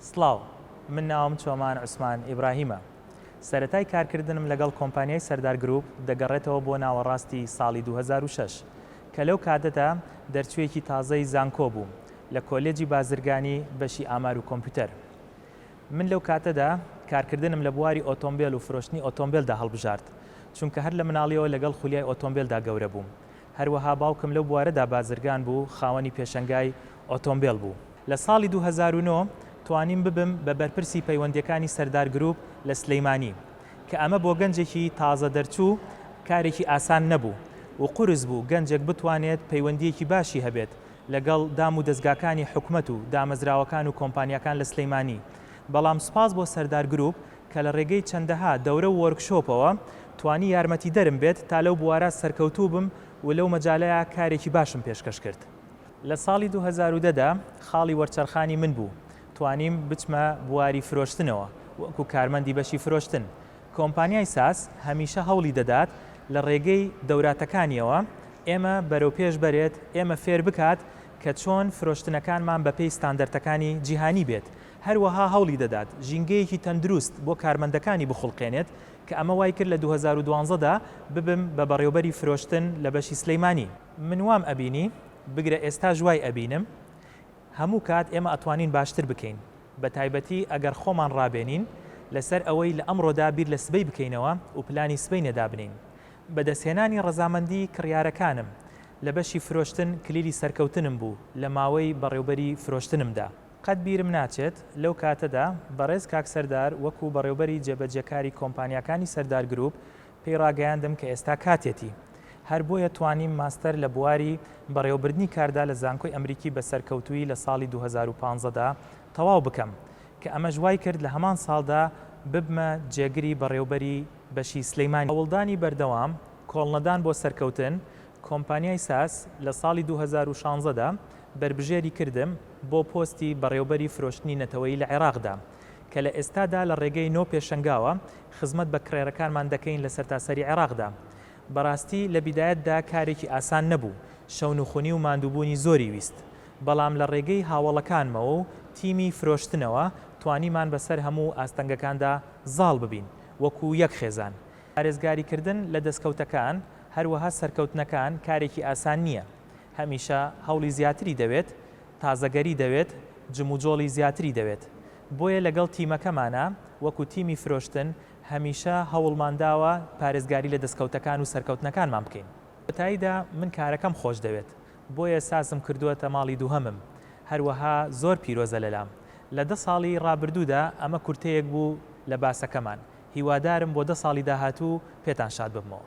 سڵاو، من ناوم چۆمان عوسمان ئیبراهیمە. سەرەتای کارکردنم لەگەڵ کۆمپانیای سەردار گرووپ دەگەڕێتەوە بۆ ناوەڕاستی ساڵی دوو هەزار و شەش، کە لەو کاتەدا دەرچوویەکی تازەی زانکۆ بووم لە کۆلێجی بازرگانی بەشی ئامار و کۆمپیوتەر. من لەو کاتەدا کارکردنم لە بواری ئۆتۆمبێل و فرۆشتنی ئۆتۆمبێلدا هەڵبژارد، چونکە هەر لە مناڵیەوە لەگەڵ خولیای ئۆتۆمبێلدا گەورە بووم. هەروەها باوکم لەو بوارەدا بازرگان بوو، خاوەنی پێشەنگای ئۆتۆمبێل بوو. لە ساڵی دوو هەزار و نۆ توانیم ببم بە بەرپرسی پەیوەندییەکانی سەردار گرووپ لە سلێمانی، کە ئەمە بۆ گەنجێکی تازە دەرچوو کارێکی ئاسان نەبوو و قورس بوو گەنجێک بتوانێت پەیوەندییەکی باشی هەبێت لەگەڵ دام و دەزگاکانی حکومەت و دامەزراوەکان و کۆمپانیاکان لە سلێمانی بەڵام سوپاس بۆ سەردار گرووپ کە لە ڕێگەی چەندەها دەورە و وۆرکشۆپەوە توانی یارمەتیدەرم بێت تا لەو بوارە سەرکەوتوو بم و لەو مەجالە کارێکی باشم پێشکەش کرد. لە ساڵی دوو هەزار و دە دا خاڵی وەرچەرخانی من بوو توانیم بچمە بواری فرۆشتنەوە وەکو کارمەندی بەشی فرۆشتن. کۆمپانیای ساس هەمیشە هەوڵی دەدات لە ڕێگەی دەوراتەکانیەوە ئێمە بەرەو پێش بەرێت، ئێمە فێر بکات کە چۆن فرۆشتنەکانمان بە پێی ستاندەرتەکانی جیهانی بێت. هەروەها هەوڵی دەدات ژینگەیەکی تەندروست بۆ کارمەندەکانی بخوڵقێنێت کە ئەمە وای کرد لە دوو هەزار و دوازدە دا ببم بە بەڕێوبەری فرۆشتن لە بەشی سلیمانی. من وام ئەبینی بگرە ئێستاش وای ئەبینم هەموو کات ئێمە ئەتوانین باشتر بکەین بە تایبەتی ئەگەر خۆمان ڕابێنین لەسەر ئەوەی لە ئەمڕۆدا بیر لە سبەی بکەینەوە و پلانی سبەینێ دابنێین بەدەستهێنانی ڕەزامەندی کڕیارەکانم لە بەشی فرۆشتن کلیلی سەرکەوتنم بوو لە ماوەی بەڕێوبەری فرۆشتنمدا. قەت بیرم ناچێت لەو کاتەدا بەڕێز کاک سەردار وەکو بەڕێوبەری جێبەجێکاری کۆمپانیاکانی سەردار گروپ پێی ڕاگەیاندم کە ئێستا کاتێتی، هەر بۆیە توانیم ماستەر لە بواری بەڕێوەبردنی کاردا لە زانکۆی ئەمریکی بە سەرکەوتوویی لە ساڵی دوو هەزار و پازدە دا تەواو بکەم، کە ئەمەش وایکرد لە هەمان ساڵدا ببمە جێگری بەڕێوبەری بەشی سلیمانی. هەوڵدانی بەردەوام، کۆڵنەدان بۆ سەرکەوتن، کۆمپانیای ساس لە ساڵی دوو هەزار و شازدە دا بەربژێری کردم بۆ پۆستی بەڕێوبەری فرۆشتنی نەتەوەیی لە عێراقدا، کە لە ئێستادا لە ڕێگەی نۆ پێشەنگاوە خزمەت بە کرێرەکانمان دەکەین لە سەرتاسەری عێراقدا. بەڕاستی لە بیدایەتدا کارێکی ئاسان نەبوو، شەونخونی و ماندووبوونی زۆری ویست، بەڵام لە ڕێگەی هاوەڵەکانمەوە و تیمی فرۆشتنەوە توانیمان بەسەر هەموو ئاستەنگەکاندا زاڵ ببین وەکو یەک خێزان. پارێزگاریکردن لە دەستکەوتەکان هەروەها سەرکەوتنەکان کارێکی ئاسان نییە، هەمیشە هەوڵی زیاتری دەوێت، تازەگەری دەوێت، جموجۆڵی زیاتری دەوێت، بۆیە لەگەڵ تیمەکەمانا، وەکو تیمی فرۆشتن هەمیشە هەوڵمان داوە پارێزگاری لە دەستکەوتەکان و سەرکەوتنەکانمان بکەین. کۆتاییدا من کارەکەم خۆشدەوێت، بۆیە سازم کردووەتە ماڵی دووهەمم، هەروەها زۆر پیرۆزە لەلام. لە دە ساڵی رابردوودا ئەمە کورتەیەک بوو لە باسەکەمان، هیوادارم بۆ دە ساڵی داهاتوو پێتان شاد ببمەوە.